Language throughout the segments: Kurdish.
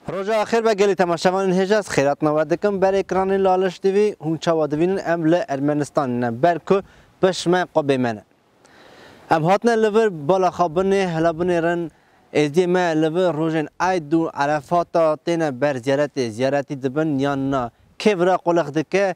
Roja axêr be gelê temaşevanên hêja ez xêratina we dikim berê ekranê Laleş TV. Hûn çawa divînin em li Ermenistanê ne ber ku pişme xwe bê me ne. Em hatine li vir bala xwe binê hela binêrin. Êdiyê me li vir rojên Eid û Erefata têne ber ziyaretê. Ziyaretî dibin yan na? Kê vira qolex dike?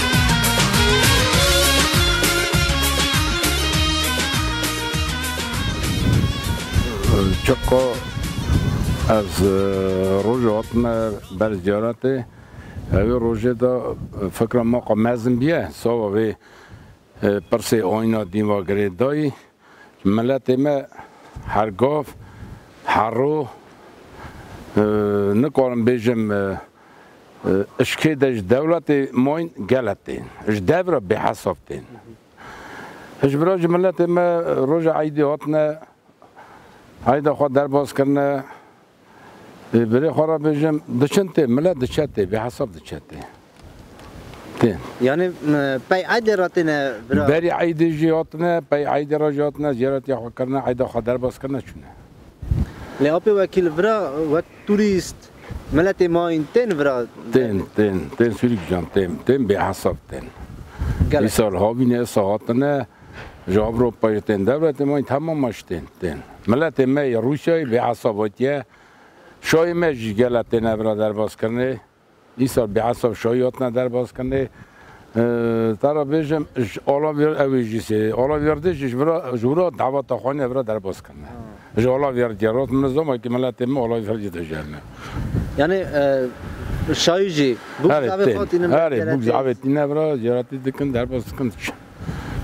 Çiqo ez roj hatime ber ziyaretê hevê rojê de fikra me qe mezin bîye sava vê pirsê ayna dîn va girê dayî Miletê me her gav, her rûh, nikarim bêjim îşkê de ji dewletê mayîn gelek tên, ji dev re bêhesab tên. Ji ber jî miletê me roja eydê hatine eyda xwe derbas kirine. Birê xwe re bêjim diçin tê milet diçe tê bê hesab diçe tê. Tê. Yani pey eydê re têne bira. Berî eydê jî hatine pey eydê re jî hatine ziyaretiya xwe kirine eyda xwe derbas kirine çûne. Lê apê wekîl vira wek turîst miletê ma in tên vira. Tên tên tên sûrî gijan tên tên bê hesab tên. Îsal havîne îsa hatine Ji Ewropayê tên dewletê me û temama ji tên tên. Miletê me yê Rûsyayê bêhesab hatiye. Şahê me jî gela têne vira derbazkirinê. Îsal bêhesab şahî hatine derbazkirinê. Te re bêjim ji alavêr ew ê jî sê alavêrdê jî ji vira ji wira daweta xanîya vira derbazkirine. Ji alavêrdiyê re min nizam e kî miletê me alavêrdiyê de jiyane. Yanî şahî jî bûk zafê xwe hatîne vira cêretî. Herê bûk zafê tîne vira cêretî dikin derbaz dikin diçin.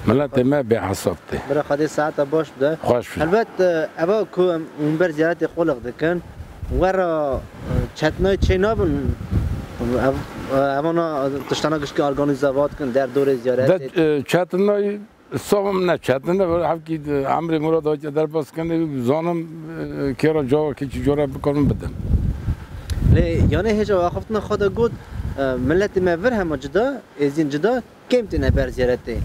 Miletê me bêhesab tê. Bira Xwedê saeta baş bide. Xweş bije. Helbet eva ku em hûn ber ziyaretê Qoliq dikin we re çetnayê çê nabin evana tiştana giştî organîze va dikin der dorê ziyaretê? De çetnayê savim ne çetine hevkî emrê Murad Aca derbas kenê zanim kêra cawa kê çi cora bikarin bidin. Lê yanê hêja axaftina xwe de got, Miletê me vir hema cida, êzîn cida, Kêm têne ber zêre tê.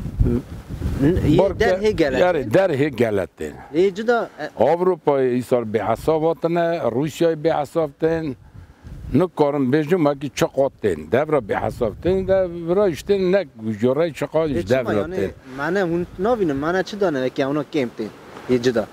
Yê derhê gele. Yarê derhê gele tên. Yê cida. Avrupayê îsar bêhesab hatine, Rûsyayê bêhesab tên. Nikarim bêjim wekî çi qat tên. Devra bêhesab tên de vira ji tê ne goreyê çi qat ji devra tê. Mane hûn navînin mane çi dane wekî ewna kêm tê yê cida.